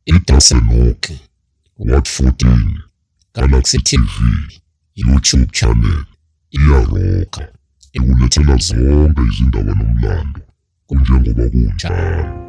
iTasenokhi, Ward 14, Galaxy TV, YouTube channel, iyaroka ikulethela zonke izindaba nomlando kunjengoba kunjalo.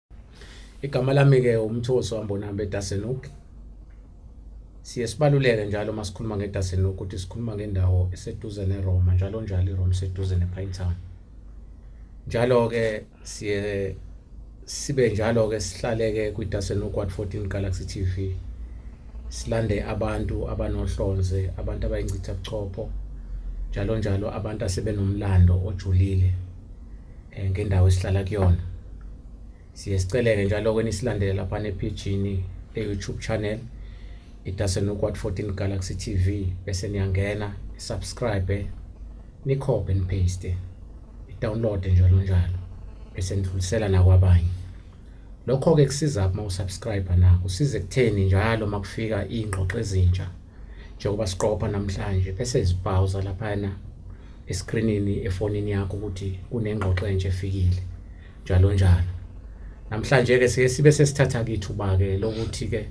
Igama lami ke uMthoso Ambonambe Dasenuk. Siye sibaluleke njalo uma sikhuluma ngeDasenuk ukuthi sikhuluma ngendawo eseduze neRoma njalo njalo iRoma seduze nePinetown. Njalo ke siye sibe njalo ke sihlaleke kwiDasenuk 14 Galaxy TV. Silande abantu abanohlonze, abantu abayincitha buchopho njalo njalo abantu asebenomlando ojulile eh, ngendawo esihlala kuyona siye siceleke njalo kweni silandele lapha nephijini le-youtube channel idasenukwat 14 galaxy tv bese niyangena subscribe nikhophe nipaste download njalo njalo bese nidlulisela nakwabanye lokho-ke kusiza uma usubscribe na kusiza ekutheni njalo uma kufika iy'ngxoxo ezintsha njengoba siqopha namhlanje bese zibhawuza laphana eskrinini efonini yakho ukuthi kunengxoxo entsha efikile njalo njalo namhlanje ke siye sibe sesithatha kithuba ke lokuthi ke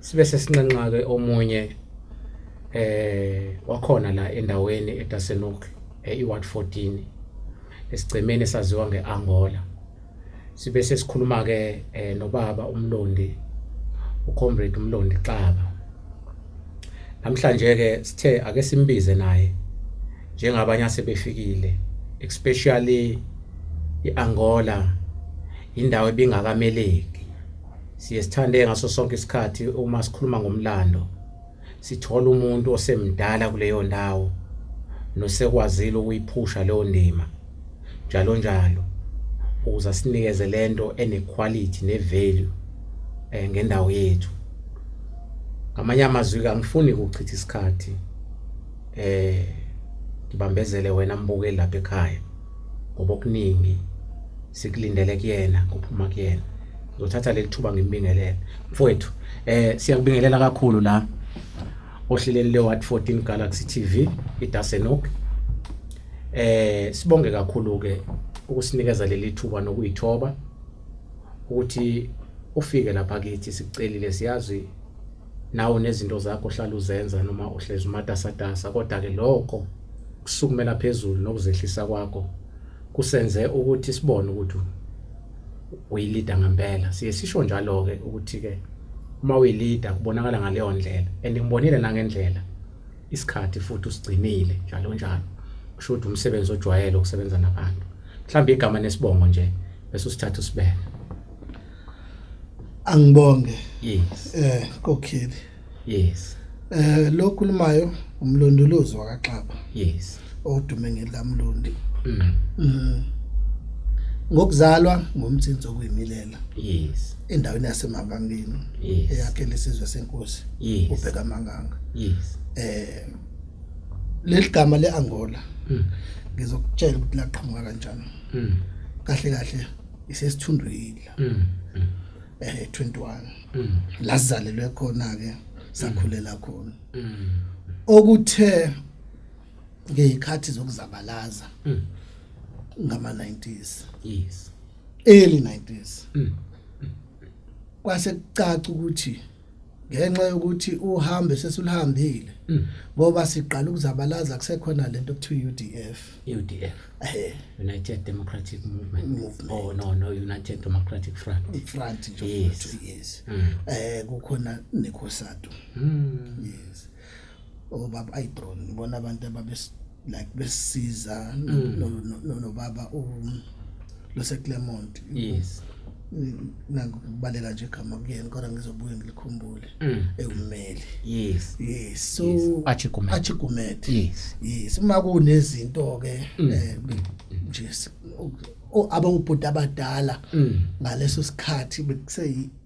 sibe sesinxenxa ke omunye eh wakhona la endaweni eTasenok eWard 14 esigcemeni saziwa ngeAngola sibe sesikhuluma ke eh, nobaba umlondi ucomrade umlondi xaba namhlanje ke sithe ake simbize naye njengabanye asebefikile especially iAngola indawo ebingakameleki siye sithande ngaso sonke isikhathi uma sikhuluma ngomlando sithola umuntu osemdala kuleyo ndawo nosekwazile ukuyiphusha leyo ndima njalo njalo ukuze asinikeze lento enequality nevalue eh ngendawo yethu ngamanye amazwi kangifuni ukuchitha isikhathi eh ngibambezele wena mbukeli lapha ekhaya ngoba okuningi sikulindele kuyena kuphuma kuyena ngizothatha leli thuba ngimbingelele mfowethu eh siyakubingelela kakhulu la ohleleni le Watt 14 Galaxy TV iDasenok eh sibonge kakhulu ke ukusinikeza leli thuba nokuyithoba ukuthi ufike lapha kithi sicelile siyazi nawo nezinto zakho ohlala uzenza noma uhlezi umatasatasa kodwa ke lokho kusukumela phezulu nokuzehlisa kwakho kusenze ukuthi sibone ukuthi uyilida ngempela siye sisho njalo ke ukuthi ke uma uyilida kubonakala ngaleyo ndlela and ngibonile nangendlela isikhathi futhi usigcinile njalo njalo kusho ukuthi umsebenzi ojwayele ukusebenza nabantu mhlawumbe igama nesibongo nje bese usithatha usibeka angibonge yes eh kokhile yes eh lo khulumayo umlondolozi wakaXaba yes odume ngelamlondi mm. mm. ngokuzalwa ngomthinzo kuyimilela yes endaweni yasemabangeni yes. eyakhe lesizwe senkosi yes. ubheka manganga yes eh leli gama leAngola mm. ngizokutshela ukuthi laqhamuka kanjani mm. kahle kahle isesithundwini mm. mm. eh 21 mm. lazalelwe khona ke sakhulela khona mm. okuthe ngeyikhathi zokuzabalaza mm. ngama 90s yes early 90s mm. kwase kucaca ukuthi ngenxa yokuthi uhambe sesulihambile mm. ngoba siqala ukuzabalaza kusekhona lento kuthiwa UDF UDF eh United Democratic Movement, Movement. oh no no United Democratic Front Front yes. yes mm. eh kukhona nekhosatu mm. yes obaba ayi bro ngibona abantu ababe like besiza nobaba u lo se Clermont yes nangibaleka nje igama kuyena kodwa ngizobuye ngilikhumbule mm. ewumeli yes yes so achigumet achigumet yes yes uma kunezinto ke mm. eh, nje abangubhuti abadala mm. ngaleso sikhathi bekuse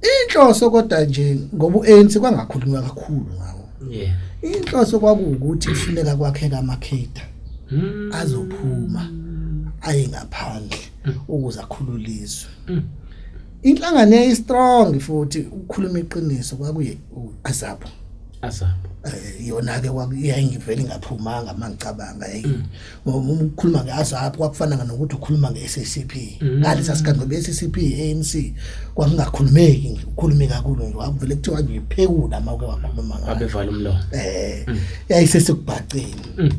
Inhloso kodwa nje ngoba uANC kwangakhulunywa kakhulu ngawo. Yeah. Inhloso kwakuwukuthi kufuneka kwakheka amakheda Hmm. azophuma aye ngaphandle Mm. ukuze akhululizwe. Mm. Inhlangano yayi strong futhi ukukhuluma iqiniso kwakuye u- azabo. Asabo. Eh, Yona ke kwakuyayingivela ingaphumanga mangicabanga hey. Mm. ngoba uma ukhuluma ngeAZAP kwakufana nokuthi ukhuluma ngeSCP mm. kanti sasikade ngoba iSCP ANC kwakungakhulumeki nje ukhulume kakhulu nje wakuvele kuthiwa nje phekula uma uke wakhuluma ngayo abevala umlomo eh mm. yayisesekubhaceni mm.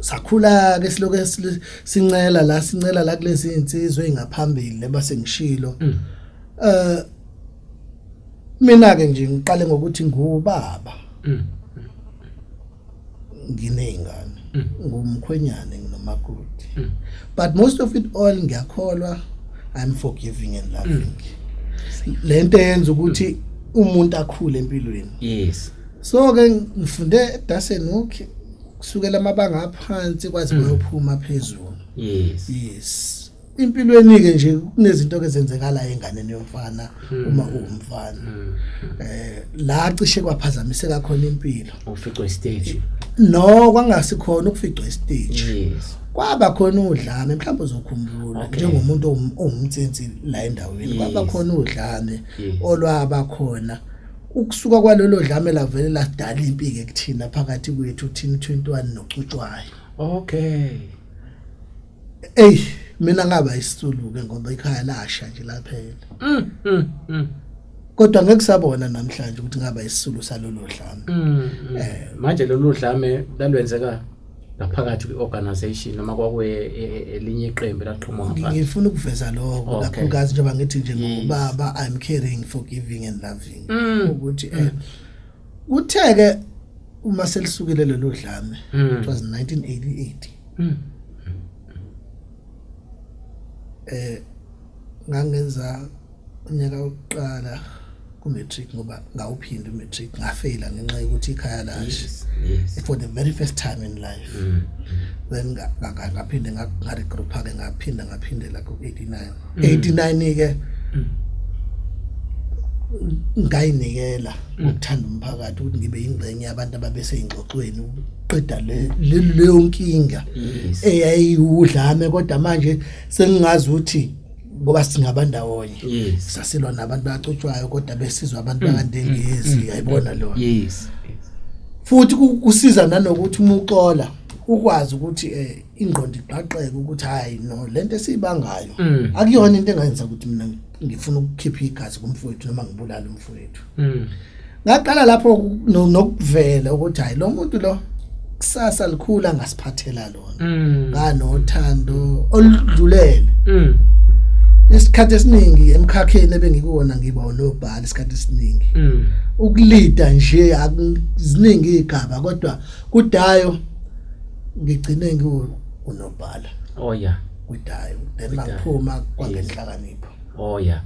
sakhula ke siloke sincela la sincela la kulezi insizwe engaphambili leba sengishilo eh mina ke nje ngiqale ngokuthi ngubaba nginey'ngane mm. ngumkhwenyane nginomakoti mm. but most of it all ngiyakholwa i'm forgiving and loving mm. le nto yenza ukuthi umuntu akhule empilweni yes so ke ngifunde edasen okay kusukela amabanga aphansi kwaze mm. kwayophuma phezulu yes yes impilweni-ke nje kunezinto-ke ezenzekalayo enganeni yomfana hmm. uma uwumfana um la cishe kwaphazamiseka khona impilo uficwa isiteji no kwangasikhona ukuficwa isiteji kwaba khona udlame mhlawumbe uzokhumbula njengomuntu owumtsinsi la endaweni kwaba khona udlame olwaba khona ukusuka kwalelo dlame lavele lasidala impike kuthina phakathi kwethu thina 21 nocutshwayo okay Ey mina ngaba isituluke ngoba ikhaya lasha nje laphela. Mm, mm, mm. Kodwa ngeke sabona namhlanje ukuthi ngaba isisulu salolo dlame. Mm, mm. Eh. Manje lolu dlame lalwenzeka ngaphakathi kwi-organization noma kwakuye e- e- elinye iqembu elaqhuma ngaphandle. Ngifuna ukuveza lokho Okay. kakhulukazi njengoba ngithi nje Yes. ngubaba I'm caring forgiving and loving Mm. ukuthi eh kuthe ke uma selisukile lelo dlame it was 1988 mm. eh ngangenza unyaka wokuqala ku-matric ngoba ngawuphinde u-matric ngafeyila ngenxa yokuthi ikhaya lashe for the very first time in life mm. then ngaphinde ngaregroupa-ke ngaphinde ngaphindela ku-eighty-nine 89 ke ngayinikela ukuthanda umphakathi ukuthi ngibe ingcenye yabantu ababeseyingxoxweni uqeda leyo nkinga eyayiwudlame kodwa manje sengingazi ukuthi ngoba singaba ndawonye yes. sasilwa nabantu bacutshwayo kodwa besizwa abantu mm. bakandengezi mm. yayibona mm. lona yes. futhi kusiza nanokuthi umuxola ukwazi ukuthi eh ingqondo ibhaqeke ukuthi hayi no lento esiyibangayo mm. akuyona into engayenza ukuthi mina ngifuna ukukhipha igazi kumfowethu noma ngibulale umfowethu mm. ngaqala lapho nokuvela ukuthi hayi lo muntu lo kusasa likhulu angasiphathela lona mm. nganothando oludlulele isikhathi esiningi emkhakheni ebengikuwona ngiba unobhala isikhathi esiningi ukulida nje akuziningi igaba kodwa kudayo ngigcine ngiwunobhala oh yeah kwidayo then mangiphuma kwangenhlakanipho oh yeah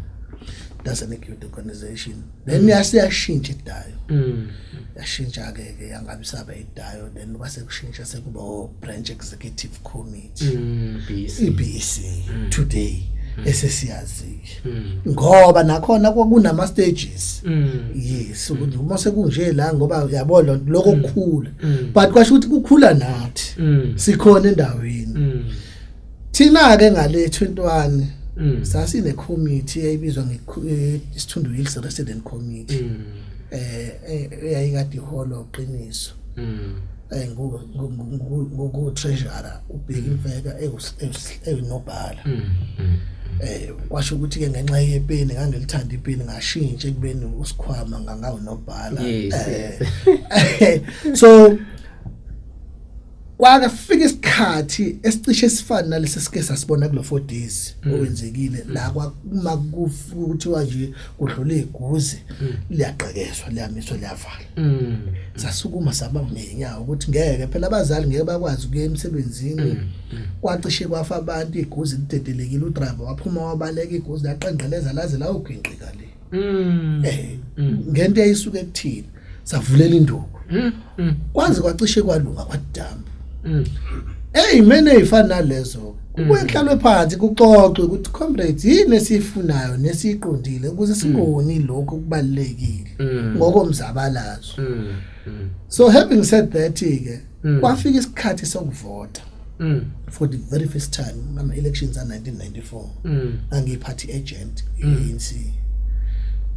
that's an acute organization then yasiyashintsha idayo mm. yashintsha ke ke yangabe saba idayo then kwase kushintsha sekuba o branch executive committee mm, BC. EBC mm. today mm. esesiyazi hmm. ngoba nakhona kwakunama stages hmm. yes ukuthi uma sekunje la ngoba uyabona lokho hmm. kukhula but kwasho ukuthi kukhula nathi sikhona endaweni thina ke ngale 21 sasine committee eyibizwa nge eh, Sithundu Hills Resident Committee eh, eh eyayikade iholo qiniso eh, ngutreasurer ubheki mfeka eyinobhala mm, mm. eh kwasho ukuthi ke ngenxa yepeni ngangilithanda ipeni ngashintsha ekubeni usikhwama ngangawo nobhala eh. so kwake fika isikhathi esicishe sifana nalesi sike sasibona kulo 4 days mm. okwenzekile la kwakuma kuthiwa nje kudlule iguzi mm. liyaqekezwa liyamiswa liyavala Mm. Sasukuma saba ngenyawo ukuthi ngeke phela abazali ngeke bakwazi ukuya emsebenzini. Mm, mm. Kwacishe kwafa abantu iguzi lidedelekile udriver waphuma wabaleka iguzi laqenqeleza laze lawugwinqika le. Mm. Eh ngento eyisuke kuthina savulela induku. Kwaze kwacishe kwalunga kwadamba. Hey mina ifana nalezo kubuye mm. kuhlalwe phansi kuxoxwe ukuthi comrades yini esiyifunayo nesiyiqondile ukuze mm. singoni lokho kubalekile mm. ngokomzabalazo mm. mm. so having said that ke mm. kwafika isikhathi sokuvota mm. for the very first time ama elections a 1994 mm. angiyiphathi agent ANC mm.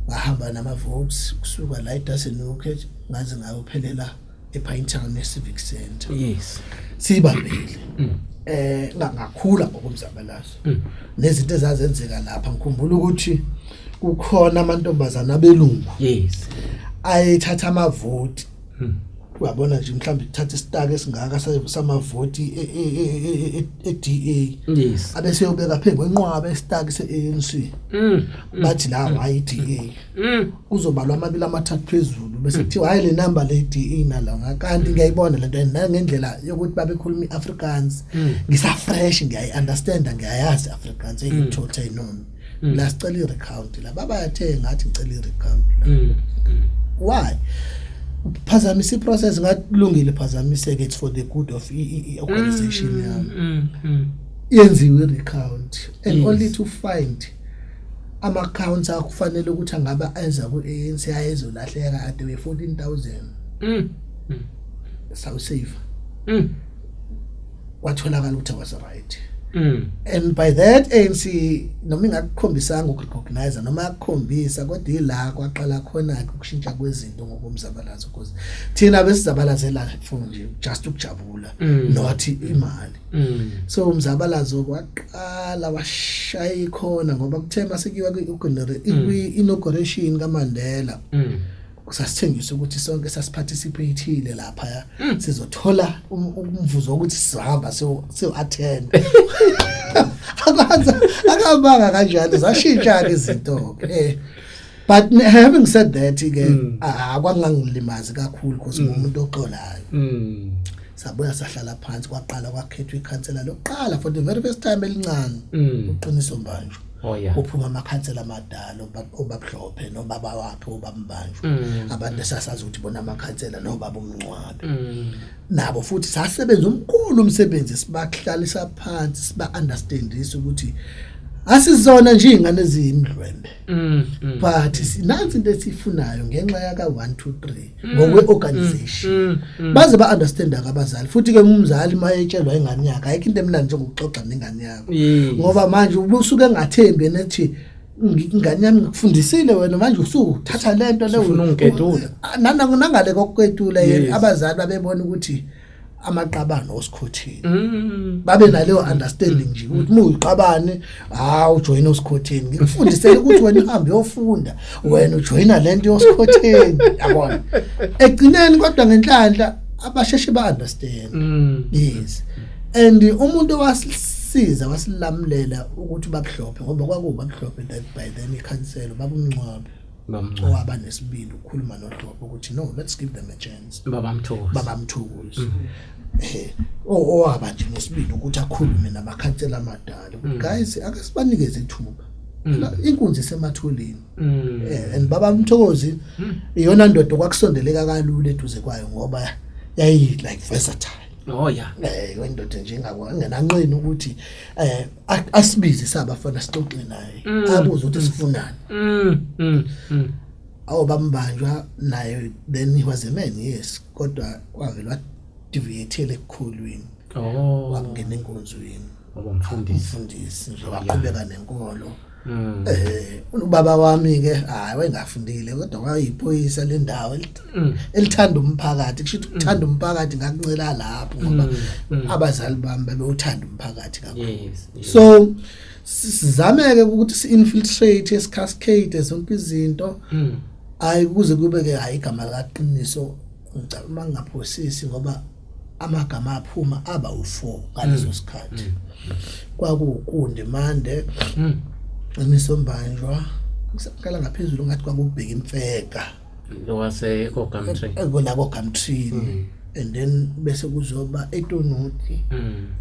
bahamba nama votes kusuka la eDasenhoek ngaze ngayophelela ePinetown neCivic Centre yes sibambile mm. eh ngangakhula ngokumzabalazo mm. nezinto ezazenzeka lapha ngikhumbula ukuthi kukhona amantombazana abelungu yes ayethatha amavoti mm. uyabona nje mhlawumbe ithatha isitaka esingaka samavoti eDA yes abese yobeka phe kwenqwaba isitaka seANC mm, mm. bathi la hayi iDA Mm. Kuzobalwa amabili amathathu phezulu bese mm. kuthiwa hayi le number le DE nalonga kanti ngiyayibona lento and nayo ngendlela yokuthi babekhuluma iAfrikaans mm. ngisa fresh ngiyayi understand ngiyayazi Afrikaans engithothe inono la sicela irecount la baba yathe ngathi ngicela irecount why phazamisa iprocess ngakulungile phazamiseke it's for the good of i-organization yami yenziwe irecount and only to find ama accounts akufanele ukuthi angabe enza ku ANC ayezolahleka ade we 14000 mm sawu save mm kwatholakala ukuthi was right mm and by that ANC noma ingakukhombisanga ukurecognize noma yakukhombisa kodwa ila kwaqala khona ukushintsha kwezinto ngokumzabalazo because thina besizabalazela phone nje just ukujabula mm. not imali Mm. So umzabalazo kwaqala washaya ikhona ngoba kuthe masekuyiwa kwi-inauguration mm. kaMandela. Mm. kusasithengisa ukuthi sonke sasiparticipatile lapha ya hmm. sizothola um, umvuzo ukuthi sihamba so so attend akwazi akabanga kanjalo zashintsha ke izinto eh but having said that ke hmm. akwangangilimazi kakhulu because hmm. umuntu oxolayo sabuya sahlala phansi kwaqala kwakhethwa ikhansela lokuqala for the very first time elincane mm. uqiniso mbanjwa oh, yeah. uphuma amakhansela amadala obabhlophe nobaba wakhe obambanjwa mm. abantu esasazi ukuthi bona amakhansela nobaba umncwabe mm. nabo futhi sasebenza umkhulu umsebenzi sibahlalisa phansi siba understandisa ukuthi asizona nje ingane eziyimdlwembe mm, mm, but sinansi into esifunayo ngenxa yaka 1 2 3 mm. ngokwe-organization mm, mm, baze ba-understanda ke abazali futhi-ke umzali uma etshelwa ingane yakhe ayikho into emnandi njengokuxoxa nengane yakho ngoba manje ubusuke engathembi yena ethi ingane yami ngikufundisile wena manje usuthatha le nto leyo nanangale kokuketula yena abazali babebona ukuthi amaqabane osikhotheni mm. babe naleyo understanding nje ukuthi uma uyiqabane ha ujoyina osikhotheni ngikufundisele ukuthi wena uhambe uyofunda wena ujoyina lento yosikhotheni yabona egcineni kodwa ngenhlanhla abasheshe ba understand mm. yes and umuntu wasisiza wasilamulela ukuthi babuhlophe ngoba kwakuba buhlophe that by then ikhansela babumncwabe owaba nesibindi ukukhuluma nodobo ukuthi no let's give them a chance baba mthokozi baba mthokozi mm. eh owaba nje nesibindi ukuthi akhulume nabakhansela amadala mm. guys ake sibanikeze ithuba mm. inkunzi sematholeni mm. eh, and baba mthokozi mm. iyona ndodo kwakusondeleka kalula eduze kwayo ngoba yayi like versatile oh yeah eh wendoda nje ingakwa ngenanqina ukuthi eh asibize sabafana sixoxe naye mm. abuze ukuthi sifunani mm, mm, awu bambanjwa naye then he was a man yes kodwa wavela deviated ekukhulwini oh wangena enkonzweni wabamfundisi mfundisi nje waqhubeka nenkolo Mm. Eh ubaba wami ke hayi wayengafundile kodwa wayiphoyisa lendawo mm. elithanda umphakathi kusho ukuthi mm. uthanda umphakathi ngakuncela lapho ngoba mm, abazali bami babewuthanda umphakathi kakhulu so sizameke ukuthi si infiltrate is cascade zonke izinto hayi kuze kube ke hayi igama laqiniso ngicabanga ngaphosisi ngoba amagama aphuma aba u4 ngaleso mm. sikhathi mm. kwakukunde mande mm. imisombanjwa ngisaqala ngaphezulu ngathi kwakubheka imfeka wase ko Gumtree ekona ko Gumtree and then bese kuzoba etonuti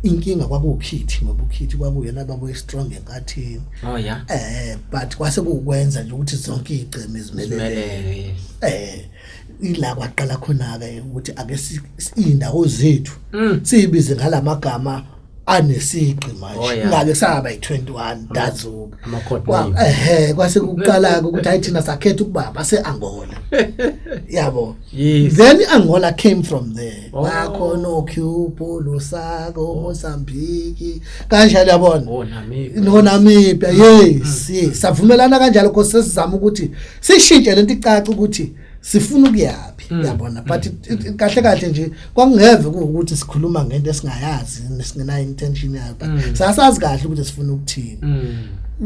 inkinga kwakukhithi ngoba ukhithi kwakuyena babuye strong enkathini oh yeah eh but kwase kukwenza nje ukuthi zonke igceme zimelele eh ila kwaqala khona-ke ukuthi ake si- si- iy'ndawo zethu Mm. siyibize ngala magama anesigqi Oh, manje yeah. ngake saba yi-21 dazuka Ama-code Kwa- name. ehe kwase kuqala-ke ukuthi hayi thina sakhetha ukuba base-angola yabo Yes. then i-angola came from there Oh. bakhona ocubo lusako mozambiki kanjalo yabona Oh, Namibia. nonamibia yes yes savumelana kanjalo because sesizama ukuthi sishintshe lento icaca ukuthi sifuna ukuyaphi hmm. yabona but hmm. kahle kahle nje kwakungeve ukuthi sikhuluma ngento esingayazi nesingenayo intention yayo but hmm. sasazi kahle ukuthi sifuna ukuthini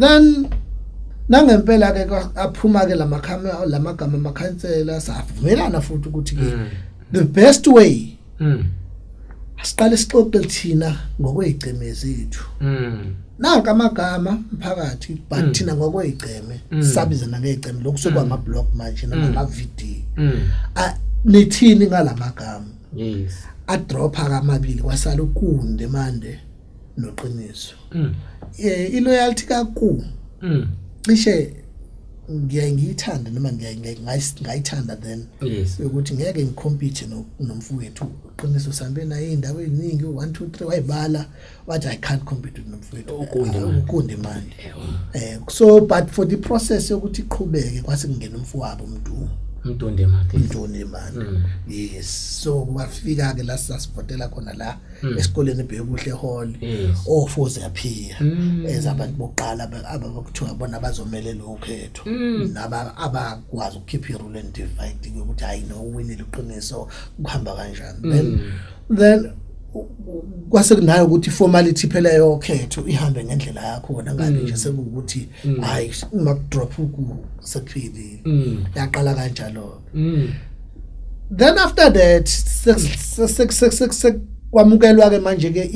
then nangempela ke aphuma ke lamakhamera lamagama amakhansela savumelana futhi ukuthi ke the best way mm asiqale sixoxe lithina ngokwezigceme zethu mm nanka amagama mphakathi but mm. thina ngokwezigceme mm. sabizana ngezigceme lokhu sokuba ama mm. blog manje nama mm. video mm. nithini ngalamagama yes a dropha kamabili kwasala ukunde manje noqiniso mm. eh i loyalty ka ku mm. cishe ngiyaye ngiyithande noma ngiyaye ngayithanda then ukuthi ngeke ngikhompithe nomfowethu uqiniso sambe naye indawo eziningi 1 2 3 wayibala wathi i can't compete with nomfowethu ukundi imali eh so but for the process yokuthi iqhubeke kwase kungena umfowabo umuntu umntondemali umntondemali mm. yes so wafika ke la sasivotela khona la mm. esikoleni bhekuhle hall ofuze yaphiya mm. ezabantu bokuqala abakuthiwa bona bazomelela ukhetho mm. naba abakwazi ukukhipha irule and divide ukuthi hayi no uwinile uqiniso kuhamba kanjani then then kwase kunayo ukuthi formality phela yokhetho ihambe ngendlela yakho wona ngani mm. nje sekuwukuthi mm. hayi uma drop uku sekuphelile mm. yaqala kanjalo mm. then after that kwamukelwa ke manje ke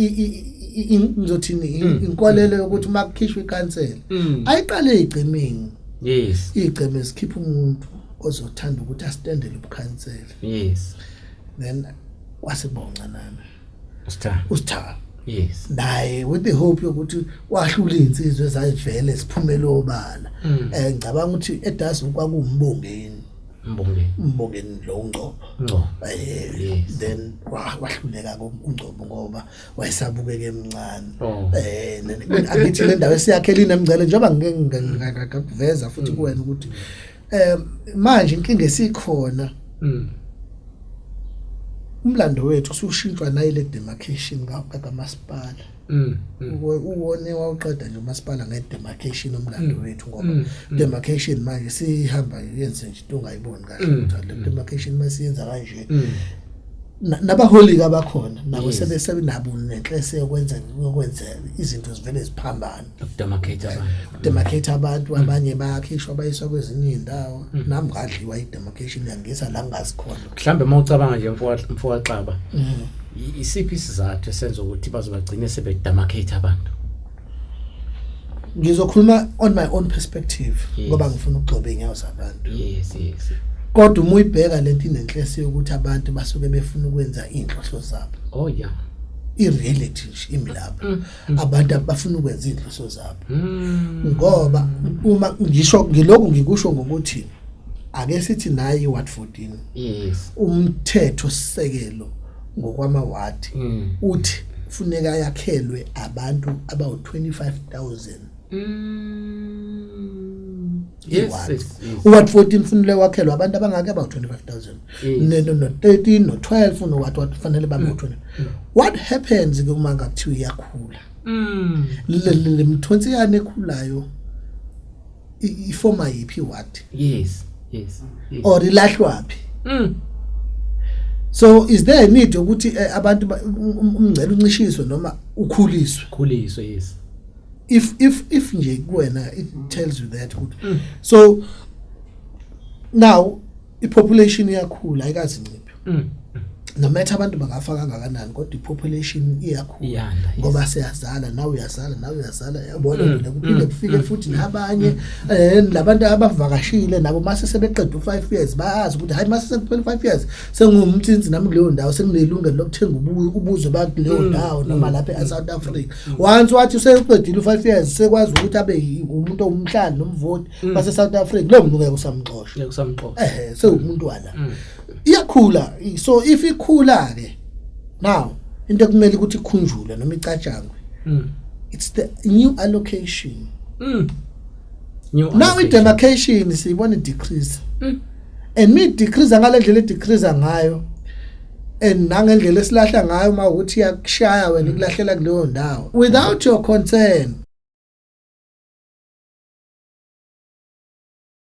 ngizothini mm. inkolelo mm. yokuthi uma kukhishwa ikhansela mm. ayiqale igcimini yes igceme sikhipha umuntu ozothanda ukuthi astendele ubukhansela yes then kwasiboncanana Star. Ustar. Yes. Naye with the hope yokuthi wahlula insizwe ezayivele siphumele obala. Mm. Eh ngicabanga ukuthi edas kwakumbongeni. Mbongeni. Mbongeni lo ngcobo. Ngcobo. Eh then wahluleka ngomgcobo ngoba wayesabukeke emncane. Oh. Eh angithi le ndawo esiyakhelini emngcele njengoba ngeke ngakuveza futhi mm. kuwena ukuthi mm. Eh manje inkinga esikhona. Mm. Umlando wethu usushintshwa nayi le demarcation ka masipala. Mm. mm. Uwone wawuqeda nje umasipala nge demarcation umlando mm. wethu ngoba mm, demarcation manje sihamba yenze nje into ongayiboni kahle ukuthi le demarcation masiyenza kanje. nabaholika abakhona nabo sebesebenabo nenhlese yokwenza yokwenza izinto zivele ziphambane ukudemarcate abantu demarcate abantu mm. abanye bayakhishwa bayiswa kwezinye izindawo mm. nami ngadliwa idemarcation yangisa la ngazikhona mhlambe uma ucabanga nje mfowaxaba mm. isiphi isizathu esenza ukuthi bazobagcine sebedemarcate abantu ngizokhuluma on my own perspective ngoba ngifuna ukugcoba inyawo zabantu yes yes kodwa uma uyibheka lento inenhlese yokuthi abantu basuke befuna ukwenza inhloso zabo oh yeah i reality nje imilapha Hmm. abantu abafuna ukwenza izinhloso zabo hmm. ngoba uma ngisho ngilokhu ngikusho ngokuthi ake sithi nayi ward 14 yes umthetho sisekelo ngokwama ward hmm. uthi kufuneka yakhelwe abantu abawu 25000 Yes, Iward. yes, yes. uward 14 funile wakhelwa abantu abangaki about 25000 Yes. Ne- no- no-13 no-12 noward ward fanele babe ngo-20 what happens ke uma ngakuthiwa iyakhula Mm. Le- le le mthonsi yani ekhulayo i- ifoma yiphi iward Yes, yes. yes. or ilahlwaphi Mm. so is there a need yokuthi eh, abantu ba- um- um- umngcele uncishiswe noma ukhuliswe Khuliswe yes. if if if nje kuwena it tells you that good mm. so now ipopulation iyakhula ayikazinciphi mm. no matter abantu bangafa kangakanani kodwa ipopulation iyakhula ngoba siyazala nawe uyazala nawe uyazala yabona mm, mina kuphinde mm, kufike mm, futhi nabanye eh labantu abavakashile nabo mase sebeqeda u5 years bayazi ukuthi hayi mase sekuphela u5 years sengiwumthinzi nami kuleyo ndawo senginelungelo lokuthenga ubuzwe bakuleyo mm. ndawo noma mm. lapha e-south africa mm. once wathi useqedile u-five years sekwazi ukuthi abe umuntu owumhlali nomvoti base-south africa leyo muntu ngeke usamxosha ehe sewumuntu wala iyakhula so if ikhula-ke now into ekumele ukuthi ikhunjulwe noma icatshangwe it's the new allocation now i demarcation siyibona decrease mm. and me decrease ngalendlela e decrease ngayo and nangendlela esilahla ngayo uma ukuthi yakushaya wena ikulahlela kuleyo ndawo without your concern